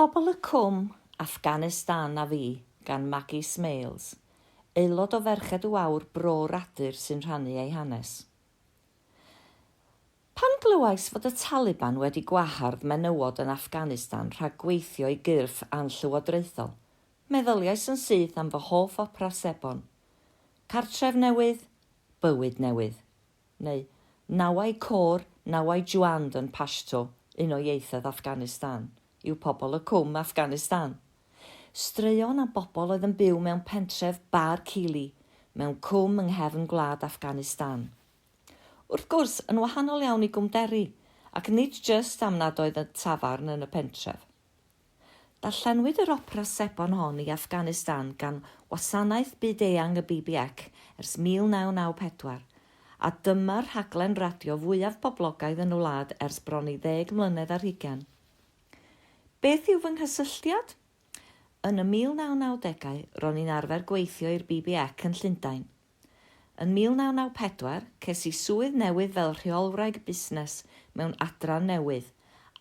Pobl y Cwm, Affganistan a fi gan Maggie Smales, aelod o Ferched y Wawr Bro Radyr sy'n rhannu ei hanes. Pan glywais fod y Taliban wedi gwahardd menywod yn Affganistan rhag gweithio i gyrff anllywodraethol, meddyliais yn syth am fy hoff opera sebon, Cartref Newydd, Bywyd Newydd. neu Nawai Khor, Nawai Juand yn Pashto, un o ieithoedd Affganistan, yw pobl y Cwm, Affganistan. Straeon am bobl oedd yn byw mewn pentref Bar Kili, mewn cwm yng nghefn gwlad Affganistan. Wrth gwrs, yn wahanol iawn i Gwm Deri, ac nid jyst am nad oedd y tafarn yn y pentref. Darllenwyd yr opera sebon hon i Afghanistan gan wasanaeth byd-eang y BBEC ers 1994, a dyma'r rhaglen radio fwyaf poblogaidd yn y wlad ers bron i ddeg mlynedd ar hugain. Beth yw fy nghysylltiad? Yn y 1990au, ro'n i'n arfer gweithio i'r BBEC yn Llundain. Yn 1994, ces i swydd newydd fel Rheolwraig Busnes mewn adran newydd,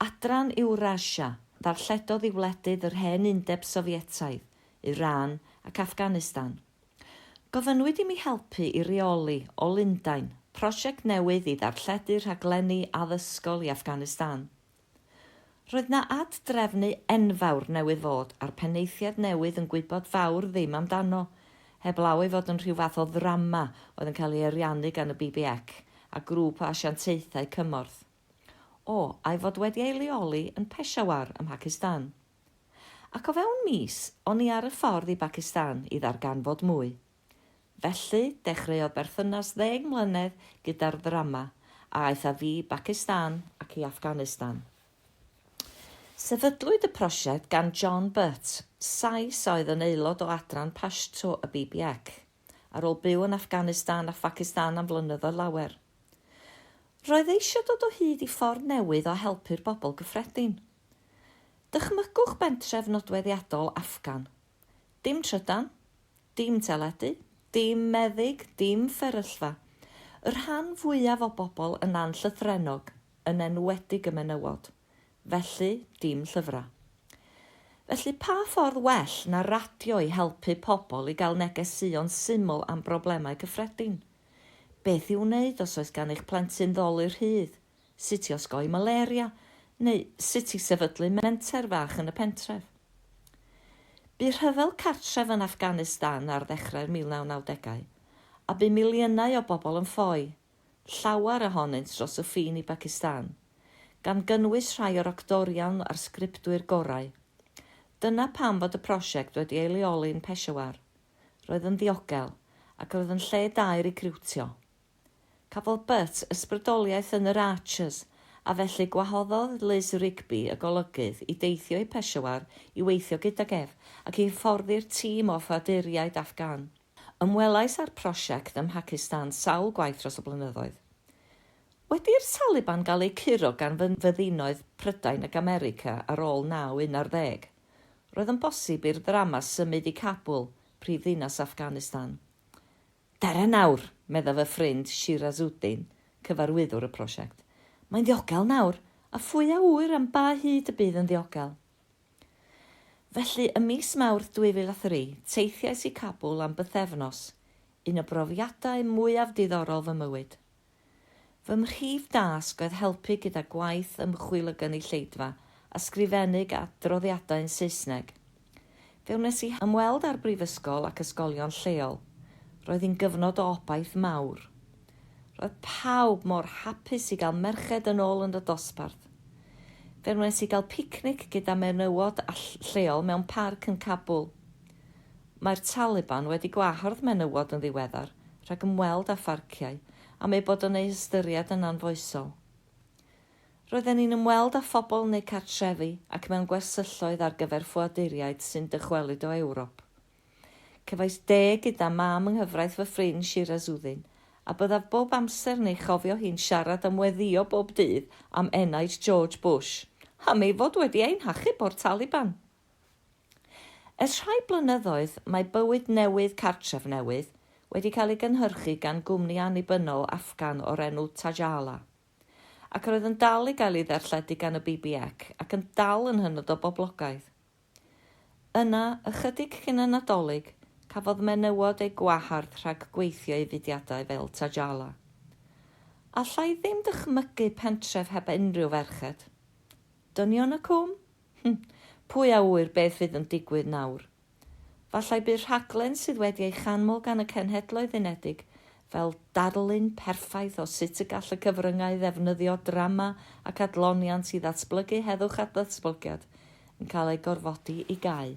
Adran Ewrasia, ddarlledodd i wledydd yr hen Undeb Sofietaidd, Iran ac Afghanistan. Gofynnwyd i mi helpu i reoli, o Lundain, prosiect newydd i ddarlledu rhaglenni addysgol i Afghanistan. Roedd 'na ad-drefnu enfawr newydd fod, a'r penaethiaid newydd yn gwybod fawr ddim amdano, heblaw ei fod yn rhyw fath o ddrama oedd yn cael ei ariannu gan y BBEC a grŵp o asiantaethau cymorth. O, a'i fod wedi ei leoli yn Peshawar ym Mhacistan. Ac o fewn mis, o'n i ar y ffordd i Bacistan i ddarganfod mwy. Felly, dechreuodd berthynas ddeng mlynedd gyda'r ddrama a aeth â fi i Bacistan ac i Afghanistan. Sefydlwyd y prosiect gan John Butt, Sais a oedd yn aelod o adran Pashto y BBEC, ar ôl byw yn Afghanistan a Phacistan am flynyddoedd lawer. Roedd eisiau dod o hyd i ffordd newydd o helpu'r bobl gyffredin. Dychmygwch bentref nodweddiadol Afgan. Dim trydan, Dim teledu, dim meddyg, dim fferyllfa. Y rhan fwyaf o bobl yn anllythrennog, yn enwedig y menywod. Felly, dim llyfrau. Felly, pa ffordd well na radio i helpu pobl i gael negeseuon syml am broblemau cyffredin? Beth i'w wneud os oes gan eich plentyn ddolur rhydd? sut i osgoi malaria neu sut i sefydlu menter fach yn y pentref. Bu rhyfel cartref yn Afghanistan ar ddechrau'r 1990au, a bu miliynau o bobl yn ffoi, llawer ohonynt dros y ffin i Bacistan, gan gynnwys rhai o'r actorion a'r sgriptwyr gorau. Dyna pam fod y prosiect wedi ei leoli yn Peshawar. Roedd yn ddiogel, ac roedd yn lle da i recriwtio. Cafodd Butt ysbrydoliaeth yn yr Archers a felly gwahoddodd Liz Rigby y golygydd i deithio i Peshawar i weithio gydag ef ac i hyfforddi'r tîm o ffoaduriaid Afghan. Ymwelais â'r prosiect ym Mhacistan sawl gwaith dros y blynyddoedd. Wedi i'r Taliban gael eu curo gan fyddinoedd Prydain ac America ar ôl 9-11, roedd yn bosib i'r ddrama symud i Kabul, prif ddinas Afghanistan. Dara nawr, meddai fy ffrind Shirazuddin, cyfarwyddwr y prosiect. Mae'n ddiogel nawr, a phwy a ŵyr am ba hyd y bydd yn ddiogel. Felly, ym mis Mawrth 2003, teithiais i Kabul am bythefnos, un o brofiadau mwyaf diddorol fy mywyd. Fy mhrif dasg oedd helpu gyda gwaith ymchwil y gynulleidfa, ysgrifennu adroddiadau'n Saesneg. Fe wnes i ymweld â'r brifysgol ac ysgolion lleol. Roedd hi'n gyfnod o obaith mawr. Roedd pawb mor hapus i gael merched yn ôl yn y dosbarth. Fe wnes i gael picnic gyda menywod lleol mewn parc yn Kabul. Mae'r Taliban wedi gwahardd menywod yn ddiweddar rhag ymweld â pharciau am eu bod yn eu hystyried yn anfoesol. Roedden ni'n ymweld â phobl yn eu cartrefi ac mewn gwersylloedd ar gyfer ffoaduriaid sy'n dychwelyd o Ewrop. Cefais de gyda mam yng nghyfraith fy ffrind Shirazuddin, a byddaf bob amser yn ei chofio hi'n siarad am weddïo bob dydd am enaid George Bush, am ei fod wedi ein hachub o'r Taliban! Ers rhai blynyddoedd, mae bywyd newydd cartref newydd wedi cael ei gynhyrchu gan gwmni annibynnol Afgan o'r enw Tajala, ac roedd yn dal i gael ei ddarlledu gan y BBEC ac yn dal yn hynod o boblogaidd. Yna, ychydig cyn y Nadolig, cafodd menywod eu gwahardd rhag gweithio i fudiadau fel Tajala. Alla i ddim dychmygu pentref heb unrhyw ferched. Dynion y Cwm? Hm, pwy a ŵyr beth fydd yn digwydd nawr. Fallai bydd rhaglen sydd wedi ei chanmol gan y Cenhedloedd Unedig fel darlun perffaith o sut y gall y cyfryngau ddefnyddio drama ac adloniant i ddatblygu heddwch a datblygiad yn cael ei gorfodi i gau.